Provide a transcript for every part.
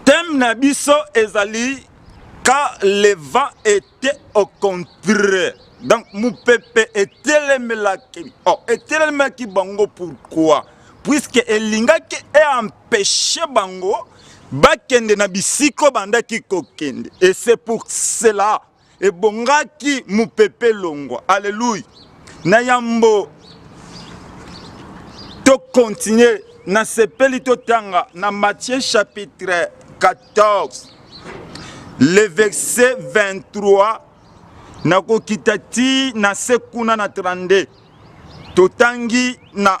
Thème na biso ezali quand le vent était au contraire. Donc mupepe etelemelaki oh, etelemelaki bango pourquoi? Puisque elingaki e empêcher bango bakende na bisiko bandaki kokende. Et c'est pour cela ebongaki mopepe longwa aleluya na yambo tokontinue nasepeli totanga na matthieu chapitre 14 le verset 23 nakokita ti na se kuna na 32 totangi na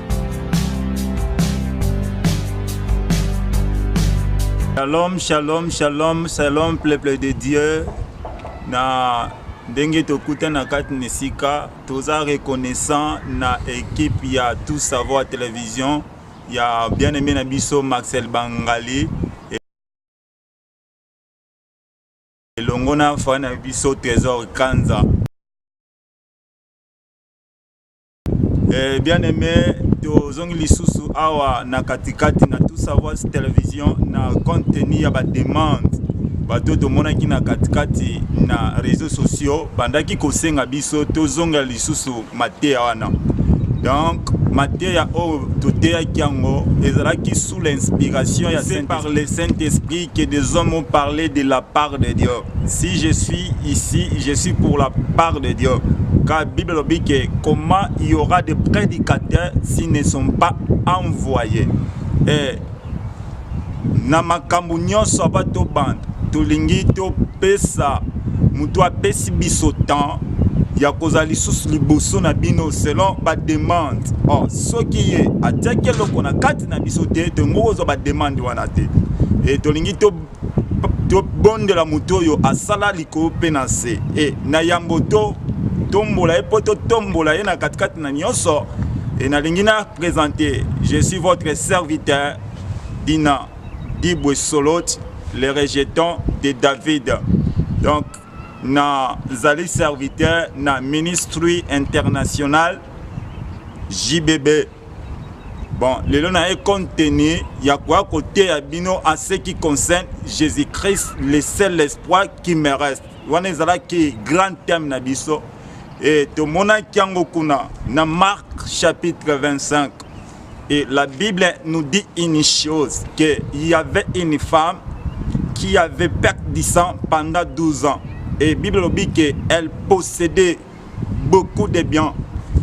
Shalom, shalom, shalom, shalom, peuple de Dieu. Na ndenge tokutana kati na esika toza reconnaissant na ekipe ya tout savoir télévision ya bien aimé na biso maxel bangali elongo na fani na biso trésor kanza Eh, bien aimé tozongi lisusu awa na katikati na tout savoir television na contenu ya bademande bato oyo tomonaki na katikati na réseau sociaux bandaki kosenga biso tozonga lisusu mateya wana donc mateya oyo toteyaki yango ezalaki sous l'inspiration ya par le saint esprit que des hommes ont parlé de la part de dieu Si je suis ici, je suis pour la part de Dieu. Car la Bible nous dit que comment il y aura des prédicateurs s'ils ne sont pas envoyés. Et na makambo nyonso aba tobanda tolingi topesa moto apesi biso temps ya kozala lisusu liboso na bino selon bademande or oh, soki ye atiaki eloko na kati na biso te tongo kozwa bademande wana te e tolingi to tobondela moto oyo asala likolo mpe na nse e na yambo to tombola ye mpo totombola ye na katikati na nyonso e nalingi na présente je suis votre serviteur dina dibwe solot le rejeton de david donc nazali serviteur na ministry international jbb bon lelo na ye contenu ya koya koteya bino en ce qui concerne jésus christ le seul espoir qui me reste wana ezalaki grand thème na biso e tomonaki yango kuna na marc chapitre 25 et la bible nous dit une chose que il y avait une femme qui avait perdu du sang pendant 12 ans et bible lobi que elle possédait beaucoup de bien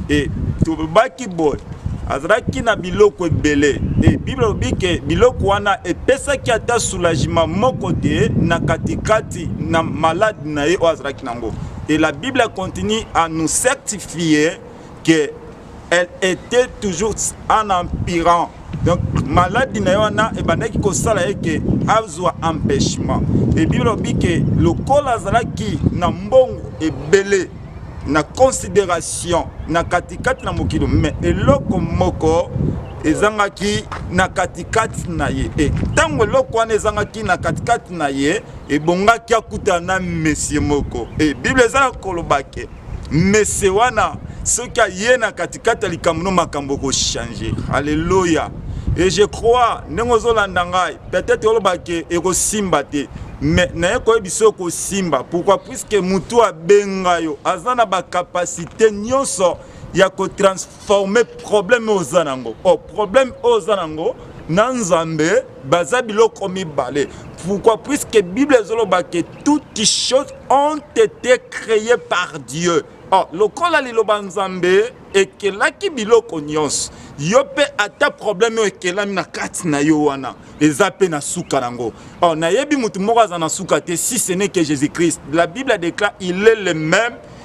et tobaki boye azalaki na biloko ebele e bible alobi ke biloko wana epesaki ata soulagement moko te na katikati na malade na ye oyo azalaki nango et la bible continue à nous certifier que elle était toujours en empirant donc maladi na ye wana ebandaki kosala ye ke azwa empêchement ebi lobi ke lokola azalaki na mbongo ebele na considération na katikati na mokili me eloko moko ezangaki na katikati na ye e ntango eloko wana ezangaki na katikati na ye ebongaki akutana na mesie moko e biblia ezalaki koloba ke mese wana soki aye na katikati ya likambo no makambo ekochange alleluya et je crois ndenge ozolanda ngai peut-être oloba ke ekosimba te mais naye koyebisa yo kosimba pourquoi puiske motu abenga yo aza na bacapacité nyonso ya kotransforme forme problème oyo oza nango o oh, problème oyo oza nango na nzambe baza biloko mibale pourquoi puisque bible ezoloba ke toutes choses ont été créées par dieu oh, lokola liloba nzambe ekelaki biloko nyonso yo mpe ata problème oyo ekelami na kati na yo wana eza mpe na suka nango oh, nayebi motu moko aza na suka te si ce n'est que jésus christ la bible déclare il est le même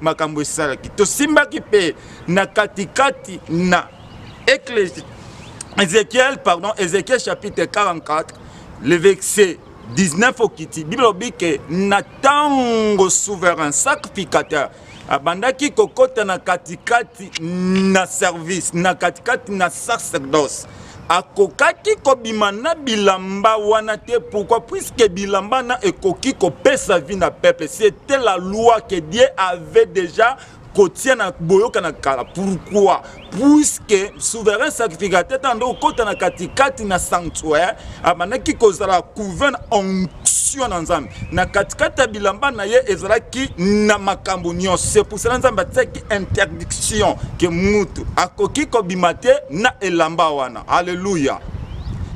makambo esalaki tosimbaki mpe na katikati na eklesi ezekiel pardon ezekiel chapitre 44 le verset 19 okiti biblia olobi ke na ntango souverain sacrificateur abandaki kokota na katikati na service na katikati na sacerdoce akokaki kobima na bilamba wana te pourquoi puisque bilamba na ekoki kopesa vie na peuple c'était la loi que dieu avait déjà kotia na boyokana kala pourquoi puisque souverain sacrificateur ntango nde okota na katikati na sanctuaire abandaki kozala couve na onction na nzambe na katikati ya bilamba na ye ezalaki na makambo nyonso se pusana nzambe atiaki interdiction ke mutu akoki kobima te na elamba wana aleluya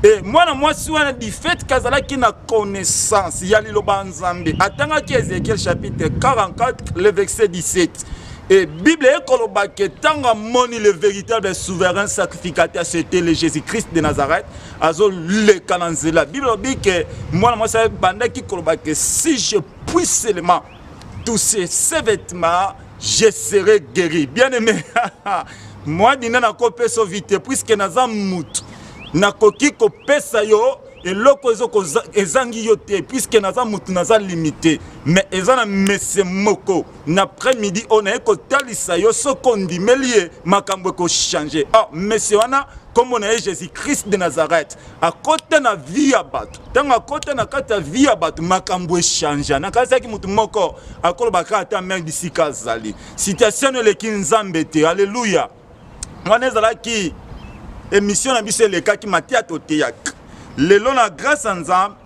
e mwana mwasi wana du fait ke azalaki na connaissance ya liloba ya nzambe atangaki ezekiel chapitre 44 le verset 17 Et Bible est kolobake tanga moni le véritable souverain sacrificateur c'était le Jésus-Christ de Nazareth azoleka na nzela bible alobi ke mwana mwasi abandaki koloba ke si je puis seulement toucher ses vêtements je serai guéri bien aimé mwa dina nakopesa yo vite puiske naza mutu nakoki kopesa yo eloko ezangi yo te puiske naza mutu naza limite mais eza na mese moko na après midi oyo naye kotalisa yo soki ondimeli ye makambo ekochange or ah, monsieur wana nkombo na ye jésus christ de nazareth akota na vie ya bato ntango akota na kati ya vie ya bato makambo echangea nakanisaki moto moko akoloba kaka ata mare bisika azali situation no eleki nzambe te alleluya wana ezalaki emission na biso elekaki mateya toteyaka lelo na grâce ya nzambe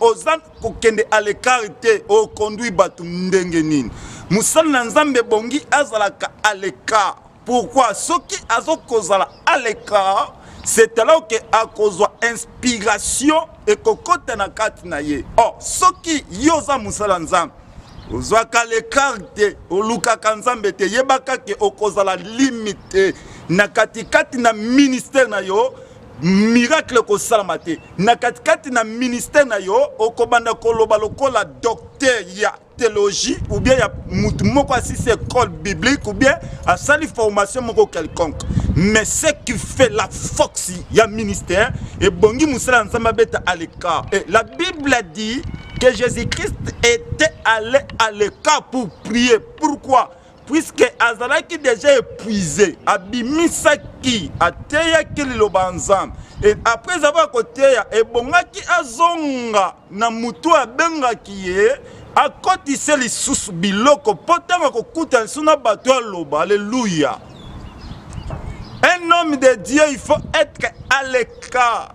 oza kokende à l'écart te oconduit bato ndenge nini mosala na nzambe ebongi azalaka à l'écart pourquoi soki azokozala à l'écart c'est alors ke akozwa inspiration ekokota na kati na ye or oh, soki yo oza mosala nzambe ozwaka lekar te olukaka nzambe te yebaka ke okozala limite na katikati na ministère na yo miracle ekosalama te na katikati na ministère na yo okobanda koloba lokola docteur ya théologie ou bien ya motu moko asisi école biblique ou bien asali formation moko quelconque mais ce qui fait la force ya ministère ebongi mosala ya nzambe abeta à l'écart et la bible dit que jésus-christ était allé à l'écart pour prier pourquoi puisque azalaki deja épuise abimisaki ateyaki liloba ya nzambe e après avoir koteya ebongaki azonga na motu abengaki ye akotise lisusu biloko mpo ntango akokutana lisusu na bato aloba alleluya un homme de dieu il faut être à l'écart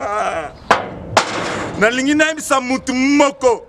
ah. nalingi nayebisa motu moko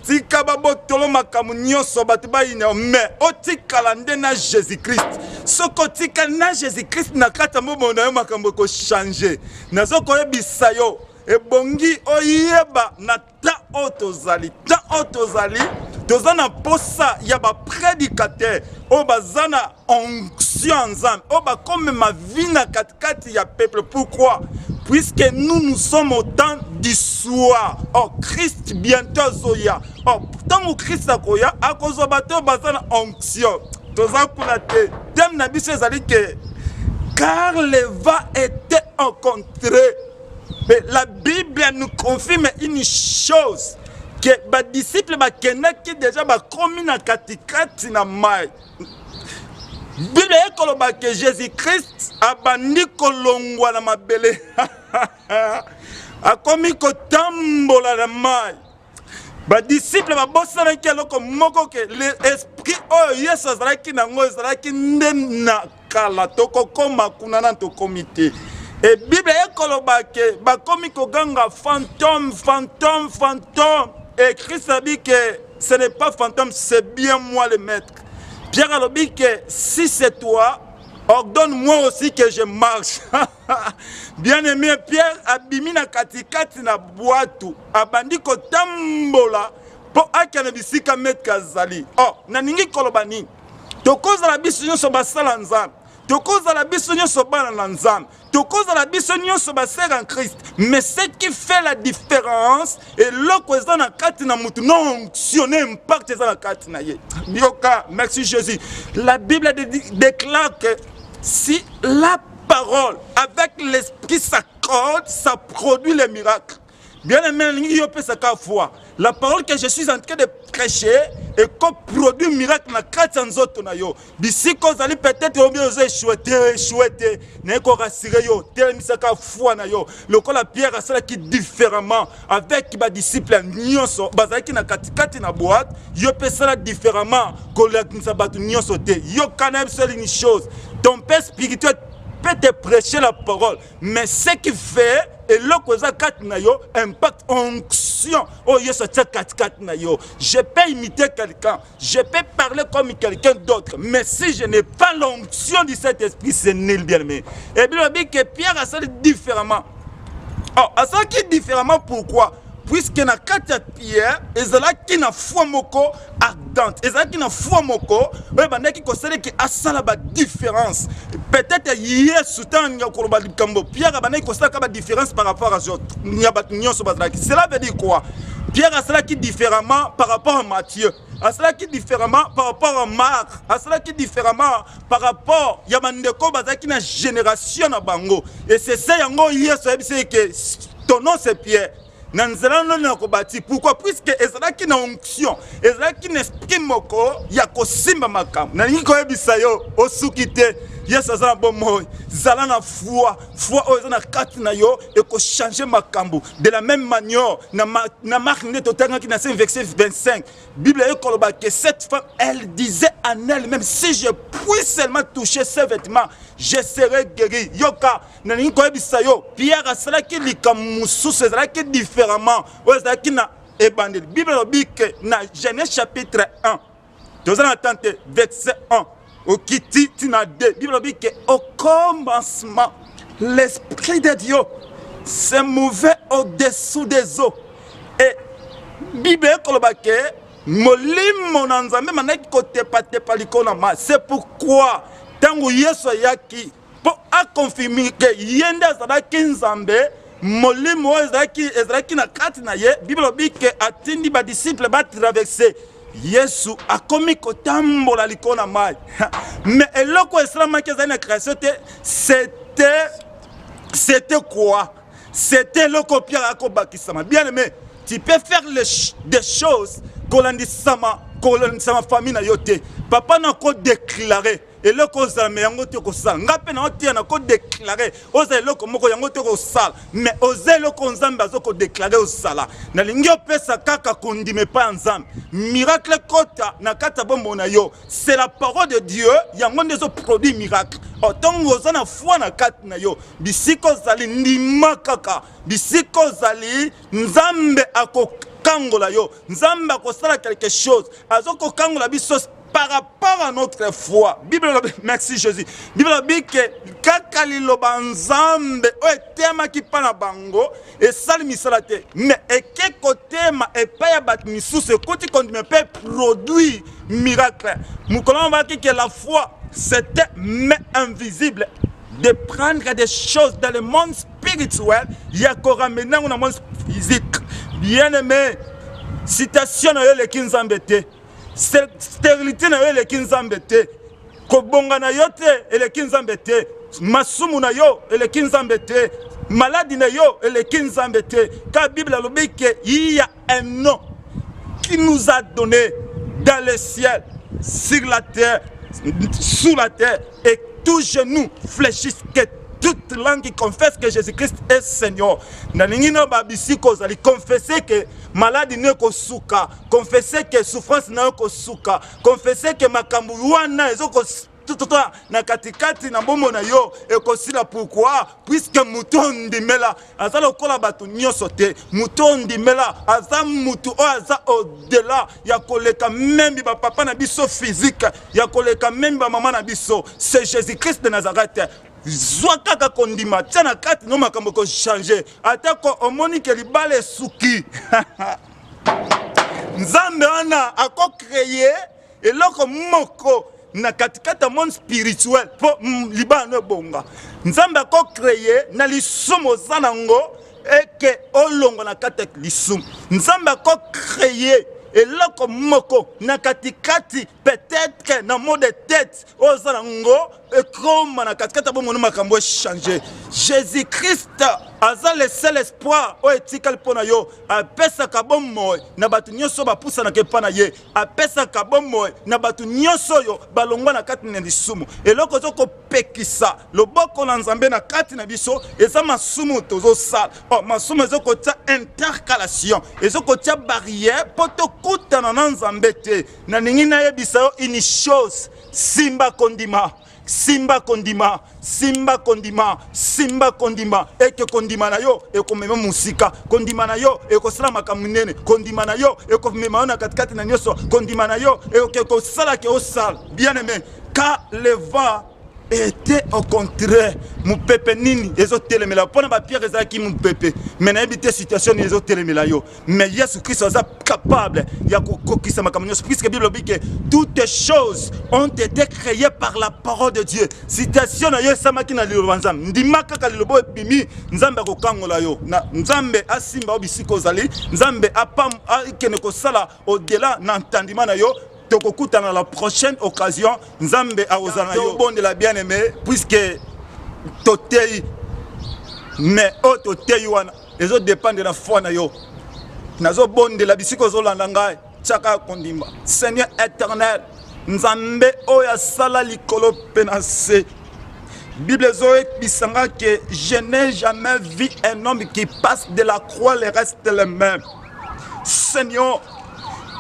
tika babotolo makambo nyonso bato bayina me otikala nde na jésus christ soki otika na jésus christ na kati ya mobolo na yo makambo ekochange nazo koyebisa yo ebongi oyeba na temps oyo tozali temps oyo tozali toza na mposa ya bapredikatere oyo baza na onction ya nzambe oyo bakomema vi na katikati ya peuple pourkui puisque nous nous sommes au temps du soir or christ bientôt azoya or ntango christ akoya akozwa bato oyo baza na onction toza kuna te teme na biso ezali ke car leva était encontre Mais la Bible nous confirme une chose que ba disciples bakendaki déjà bakomi na katikati na mai Bible ekoloba que Jésus-Christ abandi kolongwa na mabele akomi kotambola na mai badisiple babosanaki eloko moko ke le esprit oyo yesu azalaki na yango ezalaki nde na kala tokokoma kuna na tokomi te e biblia ekoloba ke bakomi koganga fantome fantome fantome e krist abi ke ce n'est pas fantome c'est bien moi le maître pierre alobi ke si c'est toi ordonne moi aussi que je marche bien aimé pierre abimi na katikati na bwatu abandi kotambola mpo akende bisika metre azali o oh, nalingi koloba nini tokozala biso nyonso basala nzambe tokozala biso nyonso bana na nzambe tokozala biso nyonso basere en christ mais ce qui fait la différence eloko eza na kati na motu na onction na impact eza na kati na ye yoka merci jésus la bible déclare que si la parole avec l'esprit sa code ça produit les miracles bien aimé nalingi yo opesa ka foi la parole que je suis en train de prêcher ekoproduit miracle na kati ya nzoto na yo bisika ozali peut-être obi oza echue te echue te naye korasire yo telemisaka foi na yo lokola pierre asalaki différemment avec ba disciples nyoso bazalaki na katikati na boîte yo pe sala différemment kolakisa bato nyoso te yo kana biso une chose ton père spirituel peut te prêcher la parole mais ce qui fait eloko eza kati na yo impact onction oyo yesu atia katikati na yo je peux imiter quelqu'un Je peux parler comme quelqu'un d'autre, mais si je n'ai pas l'onction du Saint-Esprit, c'est nul bien aimé. Et bien, dit que Pierre a sali différemment. Oh, a sali différemment pourquoi Puisque na kati Pierre, ezalaki na foi moko ardente, ezalaki na foi moko, oyo bandaki kosala ki asala ba différence. Peut-être Yesu tanga koloba likambo, Pierre abandaki kosala ka ba différence par rapport à autres. Nyabat nyonso bazalaki. Cela veut dire quoi Pierre asalaki différemment par rapport à Matthieu asalaki différemment par rapport à Marc asalaki différemment par rapport ya bandeko bazalaki na génération na bango et c'est ça yango Yesu ayebisaki que ton nom c'est Pierre na nzela noni na kobati pourquoi puisque ezalaki na onction ezalaki na esprit moko ya kosimba makambo nalingi koyebisa yo osuki te yesu aza na bomoi zala na foi foi oyo eza na kati na yo ekochange makambo de la même manière na, ma, na mark nde totangaki na se verset 25 bible eye koloba que cette femme elle disait en elle même si je puis seulement toucher ses vêtements je serai guéri yoka nalingi koyebisa yo pierre asalaki likambo mosusu ezalaki différemment oyo ezalaki na ebandeli bible elobi ke na genèse chapitre 1 toza na temps te verset 1 okiti tina 2 bible alobi ke au commencement l'esprit de dieu se mouvait au-dessous des eaux et bible ekoloba ke molimo na nzambe mandaki kotepatepa likolo na mai c'est pourquoi ntango yesu ayaki mpo akonfirme ke ye nde azalaki nzambe molimo oyo ezalaki ezalaki na kati na ye biblia lobi ke atindi badisiple batraverse yesu akomi kotambola likolo na mai mais eloko esalamaki ezali na création te c'était c'était quoi c'était eloko piaka akobakisama bien aimé tu peux faire les, des choses kolandisama kolandisama famille na yo te papa na kodéclare eloko ozala me yango te kosala nga mpe na oteya na kodeklare oza eloko moko yango te kosala me oza eloko nzambe aza kodeklare osala nalingi opesa kaka kondima epai ya nzambe miracle ekota na kati ya bombo na yo c'est la parole de dieu yango nde ezoproduit miracle ntongo oza na foi na kati na yo bisika ozali ndima kaka bisika ozali nzambe akokangola yo nzambe akosala quelque chose azokokangola biso par rapport à notre foi bible elobi merci jésus bible elobi ke kaka liloba nzambe oyo etemaki mpa na bango esali misala te me eke kotema epai ya bato misusu ekoti kondima mpe produit miracle mokolo yango balaki ke la foi c'était mais invisible de prendre des choses dans le monde spirituel ya koramener yango na monde physique bien aimé citation na yo eleki nzambe te sterilité na yo eleki nzambe te kobonga na yo te eleki nzambe te masumu na yo eleki nzambe te maladi na yo eleki nzambe te ka bible alobi ke iya un nom qui nous a donné dans le ciel sur la terre sous la terre et tout genou fléchisse que toute langue confesse que Jésus-Christ est Seigneur. Na lingi na babisiko zali confesser que malade ne ko suka confesse que souffrance na yo kosuka confesse que makambo wana ezokos tututa na katikati na bombo na yo ekosila pourkui puiske moto ondimela aza lokola bato nyonso te moto ondimela aza moto oyo aza odela ya koleka memi bapapa na biso fizike ya koleka memi bamama na biso se jésus christ de nazareth zwa kaka kondima tia na kati no makambo ekochange atako omoni ke libala esuki nzambe wana ako créer eloko moko na katikati ya monde spirituel mpo mm, libala no ebonga nzambe ako créer na lisumu oza nango eke olongwa na kati ya lisumu nzambe ako créer eloko moko na katikati peut-être na mot de tête oyo oza na ngo ekoma na katikati ya bomoni makambo echange jésus christ aza le seul espoir oyo etikali mpo na yo apesaka bomoi na bato nyonso oyo bapusanaka epai na ye apesaka bomoi na bato nyonso oyo balongwa na kati na lisumu eloko ezo kopekisa loboko na nzambe na kati na biso eza masumu tozosala oh, masumu ezo kotya intercalation ezo kotya barrière mpo tokutana na nzambe te nalingi nayebisa yo une chose simba kondima simba kondima simba kondima simba kondima ete kondima na yo ekomema mosika kondima na yo ekosala makambo minene kondima na yo ekomema yo na katikati na nyonso kondima na yo ekosala ke osala bien aime ka leva ete au contraire mopepe nini ezotelemela mpo na bapierre ezalaki mopepe me nayebi te situation nini ezotelemela yo mais yesu kristo aza capable ya kokokisa makambo nyonso puisque bible lobi ke toutes choses ont été créées par la parole de dieu citation na yo esamaki na liloba nzambe ndima kaka liloba oyo ebimi nzambe akokangola yo na nzambe asimba yo bisika ozali nzambe akende kosala odela na ntandima na yo tokokutana la prochaine occasion nzambe akozala na yo obondela bien aimé puisque toteyi mais oyo toteyi wana ezo dependre na foi na yo nazobondela bisika ozolanda ngai tiaka ya kondima seigneur éternel nzambe oyo asala likolo mpe na nse bible ezoyebisa nga ke je n'ai jamais vu un homme qui passe de la croix le reste le même Seigneur,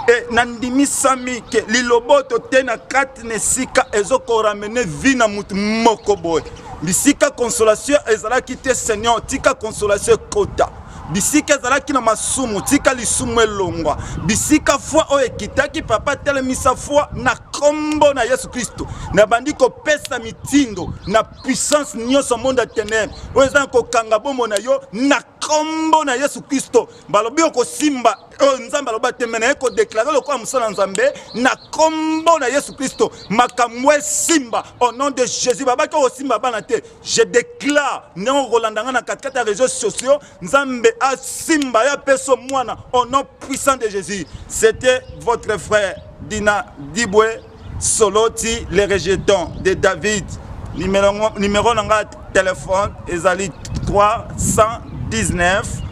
e nandimisami ke liloboto te na kati na esika ezokoramene vi na motu moko boye bisika consolation ezalaki te seigneur tika consolation ekota bisika ezalaki na masumu tika lisumu elongwa bisika foi oyo ekitaki papa telemisa foi na nkombo na yesu kristo nabandi kopesa mitindo na puissance nyonso monde ya tenebre oyo eza na kokanga bombo na yo na nkombo na yesu kristo balobi okosimba oyo nzambe aloba te me naye kodeklare lokola mosala nzambe na nkombo na yesu kristo makambo esimba au nom de jésus babaki okosimba bana te je déclare ndenge okolanda ngai na katikati ya réseau sociaux nzambe asimba ye apeso mwana au nom puissant de jésus c'était votre frère dina dibwe Soloti le rejeton de David numéro na nga telefone ezali 319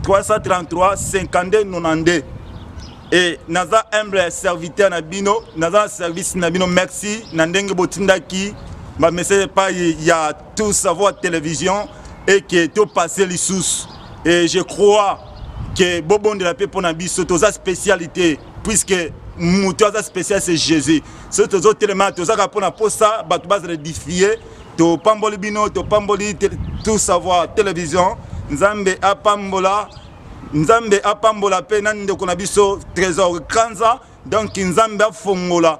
333 52 92 e naza humble ya serviteur na bino naza na service na bino merci na ndenge botindaki bamessage epai ya tout savoir télévision eke topasse lisusu e je crois ke bobondela mpe mpo na biso toza spécialité puisque moto aza spécial c'est jésus soki tozotelema tozaka mpona mposa bato bazala edifie topamboli bino topamboli tout savoir télévision nzambe apambola nzambe apambola mpe na ndeko na biso trésor kanza donc nzambe afongola